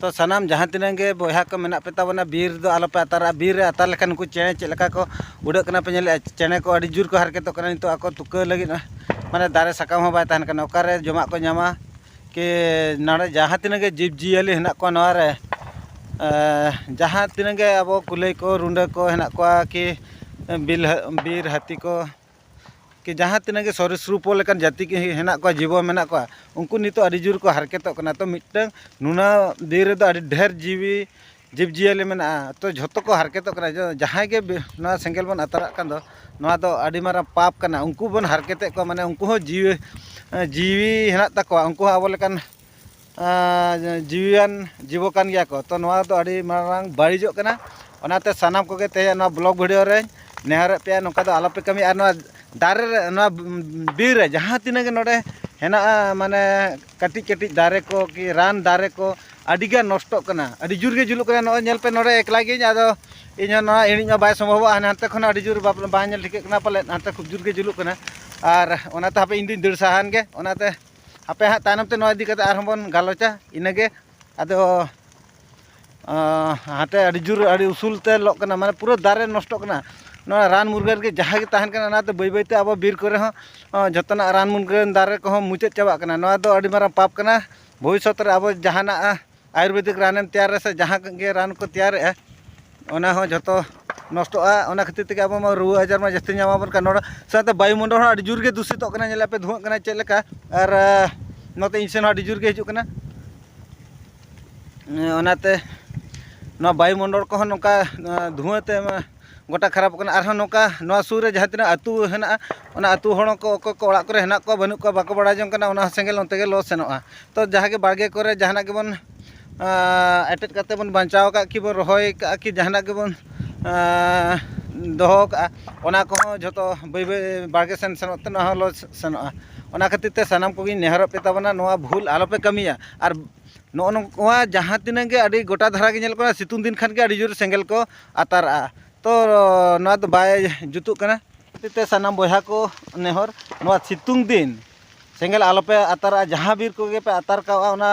ᱛᱚ ᱥᱟᱱᱟᱢ ᱡᱟᱦᱟᱸ ᱛᱤᱱᱟᱹᱜ ᱜᱮ ᱵᱚᱭᱦᱟ ᱠᱚ ᱢᱮᱱᱟᱜ ᱯᱮ ᱛᱟᱵᱚᱱᱟ ᱵᱤᱨ ᱫᱚ ᱟᱞᱚ ᱯᱮ ᱟᱛᱟᱨᱟᱜᱼᱟ ᱵᱤᱨ ᱨᱮ ᱟᱛᱟᱨ ᱞᱮᱠᱷᱟᱱ ᱱᱩᱠᱩ ᱪᱮᱬᱮ ᱪᱮᱫ ᱞᱮᱠᱟ ᱠᱚ ᱩᱰᱟᱹᱜ ᱠᱟᱱᱟ ᱯᱮ ᱧᱮᱞᱮᱜᱼᱟ ᱪᱮᱬᱮ ᱠᱚ ᱟᱹᱰᱤ ᱡᱳᱨ ᱠᱚ ᱦᱟᱨᱠᱮᱛᱚᱜ ᱠᱟᱱᱟ ᱱᱤᱛᱚᱜ ᱟᱠᱚ ᱛᱩᱠᱟᱹ ᱞᱟᱹᱜᱤᱫ ᱢᱟᱱᱮ ᱫᱟᱨᱮ ᱥᱟᱠᱟᱢ ᱦᱚᱸ ᱵᱟᱭ ᱛᱟᱦᱮᱱ ᱠᱟᱱᱟ ᱚᱠᱟᱨᱮ ᱡᱚᱢᱟᱜ ᱠᱚ ᱧᱟᱢᱟ ᱠᱤ ᱱᱚᱰᱮ ᱡᱟᱦᱟᱸ ᱛᱤᱱᱟᱹᱜ ᱜᱮ ᱡᱤᱵᱽ ᱡᱤᱭᱟᱹᱞᱤ ᱦᱮᱱᱟᱜ ᱠᱚᱣᱟ ᱱᱚᱣᱟ ᱨᱮ ᱡᱟᱦᱟᱸ ᱛᱤᱱᱟᱹᱜ ᱜᱮ ᱟᱵᱚ ᱠᱩᱞᱟᱹᱭ ᱠᱚ ᱨᱩᱰᱟᱹ ᱠᱚ ᱦᱮᱱᱟᱜ ᱠᱚᱣᱟ ᱠᱤ ᱵᱤᱨ ᱦᱟᱹᱛᱤ ᱠᱚ ᱠᱤ ᱡᱟᱦᱟᱸ ᱛᱤᱱᱟᱹᱜ ᱜᱮ ᱥᱚᱨᱤᱨ ᱥᱩᱨᱩᱯ ᱞᱮᱠᱟᱱ ᱡᱟᱹᱛᱤ ᱠᱚ ᱦᱮᱱᱟᱜ ᱠᱚᱣᱟ ᱡᱤᱵᱚ ᱢᱮᱱᱟᱜ ᱠᱚᱣᱟ ᱩᱱᱠᱩ ᱱᱤᱛᱚᱜ ᱟᱹᱰᱤ ᱡᱳᱨ ᱠᱚ ᱦᱟᱨᱠᱮᱛᱚᱜ ᱠᱟᱱᱟ ᱛᱚ ᱢᱤᱫᱴᱟᱹᱝ ᱱᱩᱱᱟᱹᱜ ᱵᱤᱨ ᱨᱮᱫᱚ ᱟᱹᱰᱤ ᱰᱷᱮᱹᱨ ᱡᱤᱣᱤ ᱡᱤᱵᱽ ᱡᱤᱭᱟᱹᱞᱤ ᱢᱮᱱᱟᱜᱼᱟ ᱛᱚ ᱡᱷᱚᱛᱚ ᱠᱚ ᱦᱟᱨᱠᱮᱛᱚᱜ ᱠᱟᱱᱟ ᱡᱟᱦᱟᱸᱭ ᱜᱮ ᱱᱚᱣᱟ ᱥᱮᱸᱜᱮᱞ ᱵᱚᱱ ᱟᱛᱟᱨᱟᱜ ᱠᱟᱱ ᱫᱚ ᱱᱚᱣᱟ ᱫᱚ ᱟᱹᱰᱤ ᱢᱟᱨᱟᱝ ᱯᱟᱯ ᱠᱟᱱᱟ ᱩᱱᱠᱩ ᱵᱚᱱ ᱦᱟᱨᱠᱮᱛᱮᱜ ᱠᱚᱣᱟ ᱢᱟᱱᱮ ᱩᱱᱠᱩ ᱦᱚᱸ ᱡᱤᱣᱤ ᱡᱤᱣᱤ ᱦᱮᱱᱟᱜ ᱛᱟᱠᱚᱣᱟ ᱩᱱᱠᱩ ᱦᱚᱸ ᱟᱵᱚ ᱞᱮᱠᱟᱱ ᱡᱤᱣᱤᱭᱟᱱ ᱡᱤᱵᱚ ᱠᱟᱱ ᱜᱮᱭᱟ ᱠᱚ ᱛᱚ ᱱᱚᱣᱟ ᱫᱚ ᱟᱹᱰᱤ ᱢᱟᱨᱟᱝ ᱵᱟᱹᱲᱤᱡᱚᱜ ᱠᱟᱱᱟ ᱚᱱᱟᱛᱮ ᱥᱟᱱᱟᱢ ᱠᱚᱜᱮ ᱛᱮᱦᱮᱧ ᱱᱚᱣᱟ ᱵᱞᱚᱜᱽ ᱵᱷᱤᱰᱤᱭᱳ ᱨᱮ ᱱᱮᱦᱚᱨᱮᱫ ᱯᱮᱭᱟ ᱱᱚᱝᱠᱟ ᱫᱚ ᱟᱞᱚᱯᱮ ᱠᱟᱹᱢᱤᱭᱟ ᱟᱨ ᱱᱚᱣᱟ ᱫᱟᱨᱮ ᱨᱮ ᱱᱚᱣᱟ ᱵᱤᱨ ᱨᱮ ᱡᱟᱦᱟᱸ ᱛᱤᱱᱟᱹᱜ ᱜᱮ ᱱᱚᱰᱮ ᱦᱮᱱᱟᱜᱼᱟ ᱢᱟᱱᱮ ᱠᱟᱹᱴᱤᱡ ᱠᱟᱹᱴᱤᱡ ᱫᱟᱨᱮ ᱠᱚ ᱠᱤ ᱨᱟᱱ ᱫᱟᱨᱮ ᱠᱚ ᱟᱹᱰᱤ ᱜᱟᱱ ᱱᱚᱥᱴᱚᱜ ᱠᱟᱱᱟ ᱟᱹᱰᱤ ᱡᱳᱨ ᱜᱮ ᱡᱩᱞᱩᱜ ᱠᱟᱱᱟ ᱱᱚᱜᱼᱚᱭ ᱧᱮᱞ ᱯᱮ ᱱᱚᱰᱮ ᱮᱠᱞᱟ ᱜᱤᱭᱟᱹᱧ ᱟᱫᱚ ᱤᱧ ᱦᱚᱸ ᱱᱚᱣᱟ ᱤᱬᱤᱡ ᱢᱟ ᱵᱟᱭ ᱥᱚᱢᱵᱷᱚᱵᱚᱜᱼᱟ ᱦᱟᱱᱮ ᱦᱟᱱᱛᱮ ᱠᱷᱚᱱ ᱟᱹᱰᱤ ᱡᱳᱨ ᱵᱟᱝ ᱧᱮᱞ ᱴᱷᱤᱠᱟᱹᱜ ᱠᱟᱱᱟ ᱯᱟᱞᱮᱫ ᱦᱟᱱᱛᱮ ᱠᱷᱩᱵ ᱡᱳᱨ ᱜᱮ ᱡᱩᱞᱩᱜ ᱠᱟᱱᱟ ᱟᱨ ᱚᱱᱟᱛᱮ ᱦᱟᱯᱮ ᱤᱧ ᱫᱩᱧ ᱫᱟᱹᱲ ᱥᱟᱦᱟᱭᱮᱱ ᱜᱮ ᱚᱱᱟᱛᱮ ᱦᱟᱯᱮ ᱦᱟᱸᱜ ᱛᱟᱭᱱᱚᱢ ᱛᱮ ᱱᱚᱣᱟ ᱤᱫᱤ ᱠᱟᱛᱮ ᱟᱨᱦᱚᱸ ᱵᱚᱱ ᱜᱟᱞᱚᱪᱟ ᱤᱱᱟᱹᱜᱮ ᱟᱫᱚ ᱦᱟᱱᱛᱮ ᱟᱹᱰᱤ ᱡᱳᱨ ᱟᱹᱰᱤ ᱩᱥᱩᱞ ᱛᱮ ᱞᱚᱜ ᱠᱟᱱᱟ ᱢᱟᱱᱮ ᱯᱩᱨᱟᱹ ᱫᱟᱨᱮ ᱱᱚᱥᱴᱚᱜ ᱠᱟᱱᱟ ᱱᱚᱣᱟ ᱨᱟᱱ ᱢᱩᱨᱜᱟᱹᱱ ᱜᱮ ᱡᱟᱦᱟᱸ ᱜᱮ ᱛᱟᱦᱮᱱ ᱠᱟᱱᱟ ᱚᱱᱟᱛᱮ ᱵᱟᱹᱭ ᱵᱟᱹᱭᱛᱮ ᱟᱵᱚ ᱵᱤᱨ ᱠᱚᱨᱮ ᱦᱚᱸ ᱡᱚᱛᱚᱱᱟᱜ ᱨᱟᱱ ᱢᱩᱨᱜᱟᱹᱱ ᱫᱟᱨᱮ ᱠᱚᱦᱚᱸ ᱢᱩᱪᱟᱹᱫ ᱪᱟᱵᱟᱜ ᱠᱟᱱᱟ ᱱᱚᱣᱟ ᱫᱚ ᱟᱹᱰᱤ ᱢᱟᱨᱟᱝ ᱯᱟᱯ ᱠᱟᱱᱟ ᱵᱷᱚᱵᱤᱥᱥᱚᱛ ᱨᱮ ᱟᱵᱚ ᱡᱟᱦᱟᱱᱟᱜ ᱟᱭᱩᱨᱵᱮᱫᱤᱠ ᱨᱟᱱᱮᱢ ᱛᱮᱭᱟᱨ ᱨᱮᱥᱮ ᱡᱟᱦᱟᱸ ᱜᱮ ᱨᱟᱱ ᱠᱚ ᱛᱮᱭᱟᱨᱮᱜᱼᱟ ᱚᱱᱟ ᱦᱚᱸ ᱡᱚᱛᱚ ᱱᱚᱥᱴᱚᱜᱼᱟ ᱚᱱᱟ ᱠᱷᱟᱹᱛᱤᱨ ᱛᱮᱜᱮ ᱟᱵᱚ ᱢᱟ ᱨᱩᱣᱟᱹ ᱟᱡᱟᱨ ᱢᱟ ᱡᱟᱹᱥᱛᱤ ᱧᱟᱢ ᱟᱵᱚᱱ ᱠᱟᱱ ᱱᱚᱰᱮ ᱥᱟᱶᱛᱮ ᱵᱟᱭᱩ ᱢᱚᱱᱰᱚᱞ ᱦᱚᱸ ᱟᱹᱰᱤ ᱡᱳᱨ ᱜᱮ ᱫᱩᱥᱤᱛᱚᱜ ᱠᱟᱱᱟ ᱧᱮᱞᱮᱫ ᱟᱯᱮ ᱫᱷᱩᱣᱟᱹᱜ ᱠᱟᱱᱟ ᱪᱮᱫ ᱞᱮᱠᱟ ᱟᱨ ᱱᱚᱛᱮ ᱤᱧ ᱥᱮᱱ ᱦᱚᱸ ᱟᱹᱰᱤ ᱡᱳᱨ ᱜᱮ ᱦᱤᱡᱩᱜ ᱠᱟᱱᱟ ᱚᱱᱟᱛᱮ ᱱᱚᱣᱟ ᱵᱟᱭᱩ ᱢᱚᱱᱰᱚᱞ ᱠᱚᱦᱚᱸ ᱱᱚᱝᱠᱟ ᱫᱷᱩᱣᱟᱹ ᱛᱮ ᱜᱚᱴᱟ ᱠᱷᱟᱨᱟᱯᱚᱜ ᱠᱟᱱᱟ ᱟᱨᱦᱚᱸ ᱱᱚᱝᱠᱟ ᱱᱚᱣᱟ ᱥᱩᱨ ᱨᱮ ᱡᱟᱦᱟᱸ ᱛᱤᱱᱟᱹᱜ ᱟᱹᱛᱩ ᱦᱮᱱᱟᱜᱼᱟ ᱚᱱᱟ ᱟᱹᱛᱩ ᱦᱚᱲ ᱦᱚᱸᱠᱚ ᱚᱠᱚᱭ ᱠᱚ ᱚᱲᱟᱜ ᱠᱚᱨᱮ ᱦᱮᱱᱟᱜ ᱠᱚᱣᱟ ᱵᱟᱹᱱᱩᱜ ᱠᱚᱣᱟ ᱵᱟᱠᱚ ᱵᱟᱲᱟᱭ ᱡᱚᱝ ᱠᱟᱱᱟ ᱚᱱᱟ ᱦᱚᱸ ᱥᱮᱸᱜᱮᱞ ᱚᱱᱛᱮ ᱜᱮ ᱞᱚ ᱥᱮᱱᱚᱜᱼᱟ ᱛᱚ ᱡᱟᱦᱟᱸ ᱜᱮ ᱵᱟᱲᱜᱮ ᱠᱚᱨᱮ ᱡᱟᱦᱟᱱᱟᱜ ᱜᱮᱵᱚᱱ ᱮᱴᱮᱫ ᱠᱟᱛᱮᱫ ᱵᱚᱱ ᱵᱟᱧᱪᱟᱣ ᱠᱟᱜ ᱠᱤ ᱵᱚᱱ ᱨᱚᱦᱚᱭ ᱠᱟᱜᱼᱟ ᱠᱤ ᱡᱟᱦᱟᱱᱟᱜ ᱜᱮᱵᱚᱱ ᱫᱚᱦᱚ ᱠᱟᱜᱼᱟ ᱚᱱᱟ ᱠᱚᱦᱚᱸ ᱡᱚᱛᱚ ᱵᱟᱹᱭ ᱵᱟᱹᱭ ᱵᱟᱲᱜᱮ ᱥᱮᱱ ᱥᱮᱱᱚᱜ ᱛᱮ ᱱᱚᱣᱟ ᱦᱚᱸ ᱞᱚ ᱥᱮᱱᱚᱜᱼᱟ ᱚᱱᱟ ᱠᱷᱟᱹᱛᱤᱨ ᱛᱮ ᱥᱟᱱᱟᱢ ᱠᱚᱜᱮᱧ ᱱᱮᱦᱚᱨᱚᱜ ᱯᱮ ᱛᱟᱵᱚᱱᱟ ᱱᱚᱣᱟ ᱵᱷᱩᱞ ᱟᱞᱚ ᱯᱮ ᱠᱟᱹᱢᱤᱭᱟ ᱟᱨ ᱱᱚᱜᱼᱚ ᱱᱚᱣᱟ ᱡᱟᱦᱟᱸ ᱛᱤᱱᱟᱹᱜ ᱜᱮ ᱟᱹᱰᱤ ᱜᱚᱴᱟ ᱫᱷᱟᱨᱟ ᱜᱮ ᱧᱮᱞᱚᱜ ᱠᱟᱱᱟ ᱥᱤᱛᱩᱝ ᱫᱤᱱ ᱠᱷᱟᱱ ᱜᱮ ᱟᱹᱰᱤ ᱡᱳᱨ ᱥᱮᱸᱜᱮᱞ ᱠᱚ ᱟᱛᱟᱨᱟᱜᱼᱟ ᱛᱚ ᱱᱚᱣᱟ ᱫᱚ ᱵᱟᱭ ᱡᱩᱛᱩᱜ ᱠᱟᱱᱟ ᱠᱷᱟᱹᱛᱤᱨᱛᱮ ᱥᱟᱱᱟᱢ ᱵᱚᱭᱦᱟ ᱠᱚ ᱱᱮᱦᱚᱨ ᱱᱚᱣᱟ ᱥᱤᱛᱩᱝ ᱫᱤᱱ ᱥᱮᱸᱜᱮᱞ ᱟᱞᱚᱯᱮ ᱟᱛᱟᱨᱟᱜᱼᱟ ᱡᱟᱦᱟᱸ ᱵᱤᱨ ᱠᱚᱜᱮ ᱯᱮ ᱟᱛᱟᱨ ᱠᱟᱜᱼᱟ ᱚᱱᱟ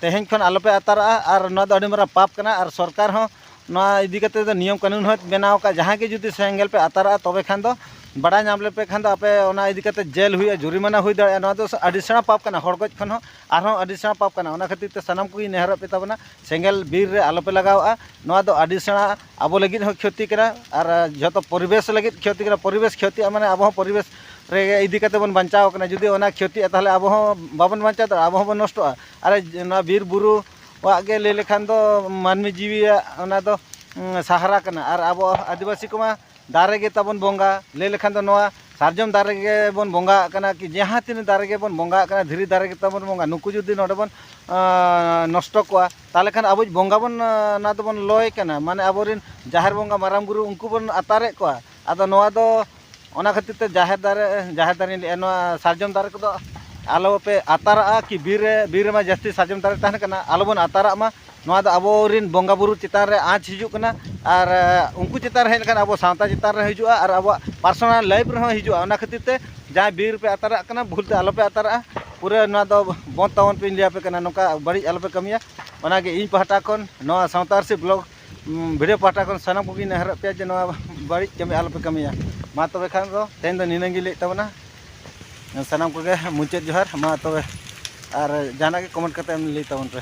ᱛᱮᱦᱮᱧ ᱠᱷᱚᱱ ᱟᱞᱚᱯᱮ ᱟᱛᱟᱨᱟᱜᱼᱟ ᱟᱨ ᱱᱚᱣᱟ ᱫᱚ ᱟᱹᱰᱤ ᱢᱟᱨᱟᱝ ᱯᱟᱯ ᱠᱟᱱᱟ ᱟᱨ ᱥᱚᱨᱠᱟᱨ ᱦᱚᱸ ᱱᱚᱣᱟ ᱤᱫᱤ ᱠᱟᱛᱮ ᱫᱚ ᱱᱤᱭᱚᱢ ᱠᱟᱹᱱᱩᱱ ᱦᱚᱸᱭ ᱵᱮᱱᱟᱣ ᱠᱟᱜᱼᱟ ᱡᱟᱦᱟᱸᱭ ᱜᱮ ᱡᱩᱫᱤ ᱥᱮᱸᱜᱮᱞ ᱯᱮ ᱟᱛᱟᱨᱟᱜᱼᱟ ᱛᱚᱵᱮ ᱠᱷᱟᱱ ᱫᱚ ᱵᱟᱲᱟᱭ ᱧᱟᱢ ᱞᱮᱯᱮ ᱠᱷᱟᱱ ᱫᱚ ᱟᱯᱮ ᱚᱱᱟ ᱤᱫᱤ ᱠᱟᱛᱮ ᱡᱮᱞ ᱦᱩᱭᱩᱜᱼᱟ ᱡᱩᱨᱤᱢᱟᱱᱟ ᱦᱩᱭ ᱫᱟᱲᱮᱭᱟᱜᱼᱟ ᱱᱚᱣᱟ ᱫᱚ ᱟᱹᱰᱤ ᱥᱮᱬᱟ ᱯᱟᱯ ᱠᱟᱱᱟ ᱦᱚᱲ ᱜᱚᱡ ᱠᱷᱚᱱ ᱦᱚᱸ ᱟᱨᱦᱚᱸ ᱟᱹᱰᱤ ᱥᱮᱬᱟ ᱯᱟᱯ ᱠᱟᱱᱟ ᱚᱱᱟ ᱠᱷᱟᱹᱛᱤᱨ ᱛᱮ ᱥᱟᱱᱟᱢ ᱠᱚᱜᱮᱧ ᱱᱮᱦᱚᱨᱚᱜ ᱯᱮ ᱛᱟᱵᱚᱱᱟ ᱥᱮᱸᱜᱮᱞ ᱵᱤᱨ ᱨᱮ ᱟᱞᱚ ᱯᱮ ᱞᱟᱜᱟᱣᱟᱜᱼᱟ ᱱᱚᱣᱟ ᱫᱚ ᱟᱹᱰᱤ ᱥᱮᱬᱟ ᱟᱵᱚ ᱞᱟᱹᱜᱤᱫ ᱦᱚᱸ ᱠᱷᱚᱛᱤ ᱠᱟᱱᱟ ᱟᱨ ᱡᱚᱛᱚ ᱯᱚᱨᱤᱵᱮᱥ ᱞᱟᱹᱜᱤᱫ ᱠᱷᱚᱛᱤ ᱠᱟᱱᱟ ᱯᱚᱨᱤᱵᱮᱥ ᱠᱷᱚᱛᱤᱜᱼᱟ ᱢᱟᱱᱮ ᱟᱵᱚ ᱦᱚᱸ ᱯᱚᱨᱤᱵᱮᱥ ᱨᱮ ᱤᱫᱤ ᱠᱟᱛᱮᱫ ᱵᱚᱱ ᱵᱟᱧᱪᱟᱣ ᱠᱟᱱᱟ ᱡᱩᱫᱤ ᱚᱱᱟ ᱠᱷᱚᱛᱤᱜᱼᱟ ᱛᱟᱦᱚᱞᱮ ᱟᱵᱚ ᱦᱚᱸ ᱵᱟᱵᱚᱱ ᱵᱟᱧᱪᱟᱣ ᱫᱟᱲᱮᱭᱟᱜᱼᱟ ᱟᱵᱚ ᱦᱚᱸᱵᱚᱱ ᱱᱚᱥᱴᱚᱜᱼᱟ ᱟᱨ ᱱᱚᱣᱟ ᱵᱤᱨ ᱵᱩᱨᱩ ᱟᱜ ᱜᱮ ᱞᱟᱹᱭ ᱞᱮᱠᱷᱟᱱ ᱫᱚ ᱢᱟᱹᱱᱢᱤ ᱡᱤᱣᱤᱭᱟᱜ ᱚᱱᱟ ᱫᱚ ᱥᱟᱦᱟᱨᱟ ᱠᱟᱱᱟ ᱟᱨ ᱟᱵᱚ ᱟᱹᱫᱤᱵᱟᱹᱥᱤ ᱠᱚᱢᱟ ᱫᱟᱨᱮ ᱜᱮ ᱛᱟᱵᱚᱱ ᱵᱚᱸᱜᱟ ᱞᱟᱹᱭ ᱞᱮᱠᱷᱟᱱ ᱫᱚ ᱱᱚᱣᱟ ᱥᱟᱨᱡᱚᱢ ᱫᱟᱨᱮ ᱜᱮᱵᱚᱱ ᱵᱚᱸᱜᱟ ᱟᱜ ᱠᱟᱱᱟ ᱠᱤ ᱡᱟᱦᱟᱸ ᱛᱤᱱᱟᱹᱜ ᱫᱟᱨᱮ ᱜᱮᱵᱚᱱ ᱵᱚᱸᱜᱟ ᱟᱜ ᱠᱟᱱᱟ ᱫᱷᱤᱨᱤ ᱫᱟᱨᱮ ᱜᱮ ᱛᱟᱵᱚᱱ ᱵᱚᱸᱜᱟ ᱱᱩᱠᱩ ᱡᱩᱫᱤ ᱱᱚᱰᱮ ᱵᱚᱱ ᱱᱚᱥᱴᱚ ᱠᱚᱣᱟ ᱛᱟᱦᱚᱞᱮ ᱠᱷᱟᱱ ᱟᱵᱚᱭᱤᱡ ᱵᱚᱸᱜᱟ ᱵᱚᱱ ᱚᱱᱟ ᱫᱚᱵᱚᱱ ᱞᱚᱭᱮ ᱠᱟᱱᱟ ᱢᱟᱱᱮ ᱟᱵᱚ ᱨᱮᱱ ᱡᱟᱦᱮᱨ ᱵᱚᱸᱜᱟ ᱢᱟᱨᱟᱝ ᱵᱩᱨᱩ ᱩᱱᱠᱩ ᱵᱚᱱ ᱟᱛᱟᱨᱮᱜ ᱠᱚᱣᱟ ᱟᱫᱚ ᱱᱚᱣᱟ ᱫᱚ ᱚᱱᱟ ᱠᱷᱟᱹᱛᱤᱨ ᱛᱮ ᱡᱟᱦᱮᱨ ᱫᱟᱨᱮ ᱡᱟᱦᱮᱨ ᱫᱟᱨᱮᱧ ᱞᱟᱹᱭᱮᱜᱼᱟ ᱱᱚᱣᱟ ᱥᱟᱨᱡᱚᱢ ᱫᱟᱨᱮ ᱠᱚᱫᱚ ᱟᱞᱚ ᱯᱮ ᱟᱛᱟᱨᱟᱜᱼᱟ ᱠᱤ ᱵᱤᱨ ᱨᱮ ᱵᱤᱨ ᱨᱮᱢᱟ ᱡᱟᱹᱥᱛᱤ ᱥᱟᱨᱡᱚᱢ ᱫᱟᱨᱮ ᱛᱟᱦᱮᱱ ᱠᱟᱱᱟ ᱟᱞᱚ ᱵᱚᱱ ᱟᱛᱟᱨᱟᱜ ᱢᱟ ᱱᱚᱣᱟ ᱫᱚ ᱟᱵᱚ ᱨᱮᱱ ᱵᱚᱸᱜᱟ ᱵᱩᱨᱩ ᱪᱮᱛᱟᱱ ᱨᱮ ᱟᱸᱡᱽ ᱦᱤᱡᱩᱜ ᱠᱟᱱᱟ ᱟᱨ ᱩᱱᱠᱩ ᱪᱮᱛᱟᱱ ᱨᱮ ᱦᱮᱡ ᱞᱮᱱᱠᱷᱟᱱ ᱟᱵᱚ ᱥᱟᱶᱛᱟ ᱪᱮᱛᱟᱱ ᱨᱮ ᱦᱤᱡᱩᱜᱼᱟ ᱟᱨ ᱟᱵᱚᱣᱟᱜ ᱯᱟᱨᱥᱚᱱᱟᱞ ᱞᱟᱭᱤᱯᱷ ᱨᱮᱦᱚᱸ ᱦᱤᱡᱩᱜᱼᱟ ᱚᱱᱟ ᱠᱷᱟᱹᱛᱤᱨ ᱛᱮ ᱡᱟᱦᱟᱸᱭ ᱵᱤᱨ ᱨᱮᱯᱮ ᱟᱛᱟᱨᱟᱜ ᱠᱟᱱᱟ ᱵᱷᱩᱞ ᱛᱮ ᱟᱞᱚ ᱯᱮ ᱟᱛᱟᱨᱟᱜᱼᱟ ᱯᱩᱨᱟᱹ ᱱᱚᱣᱟ ᱫᱚ ᱵᱚᱸᱫᱽ ᱛᱟᱵᱚᱱ ᱯᱮ ᱤᱧ ᱞᱟᱹᱭ ᱟᱯᱮ ᱠᱟᱱᱟ ᱱᱚᱝᱠᱟ ᱵᱟᱹᱲᱤᱡ ᱟᱞᱚ ᱯᱮ ᱠᱟᱹᱢᱤᱭᱟ ᱚᱱᱟ ᱜᱮ ᱤᱧ ᱯᱟᱦᱴᱟ ᱠᱷᱚᱱ ᱱᱚᱣᱟ ᱥᱟᱶᱛᱟ ᱟᱹᱨᱥᱤ ᱵᱞᱚᱜᱽ ᱵᱷᱤᱰᱤᱭᱳ ᱯᱟᱦᱴᱟ ᱠᱷᱚᱱ ᱥᱟᱱᱟᱢ ᱠᱚᱜᱮᱧ ᱱᱮᱦᱚᱨᱮᱫ ᱯᱮᱭᱟ ᱡᱮ ᱱᱚᱣᱟ ᱵᱟᱹᱲᱤᱡ ᱠᱟᱹᱢᱤ ᱟᱞᱚ ᱯᱮ ᱠᱟᱹᱢᱤᱭᱟ ᱢᱟ ᱛᱚᱵᱮ ᱠᱷᱟᱱ ᱫᱚ ᱛᱮᱦᱮᱧ ᱫᱚ ᱱᱤᱱᱟᱹᱜ ᱜᱮ ᱞᱟᱹᱭᱮᱫ ᱛᱟᱵᱚᱱᱟ ᱥᱟᱱᱟᱢ ᱠᱚᱜᱮ ᱢᱩᱪᱟᱹᱫ ᱡᱚᱦᱟᱨ ᱢᱟ ᱛᱚᱵᱮ ᱟᱨ ᱡᱟᱦᱟᱱᱟᱜ ᱜᱮ ᱠᱚᱢᱮᱱᱴ ᱠᱟᱛᱮᱫ ᱮᱢ ᱞᱟᱹᱭ ᱛᱟᱵᱚᱱ ᱯᱮ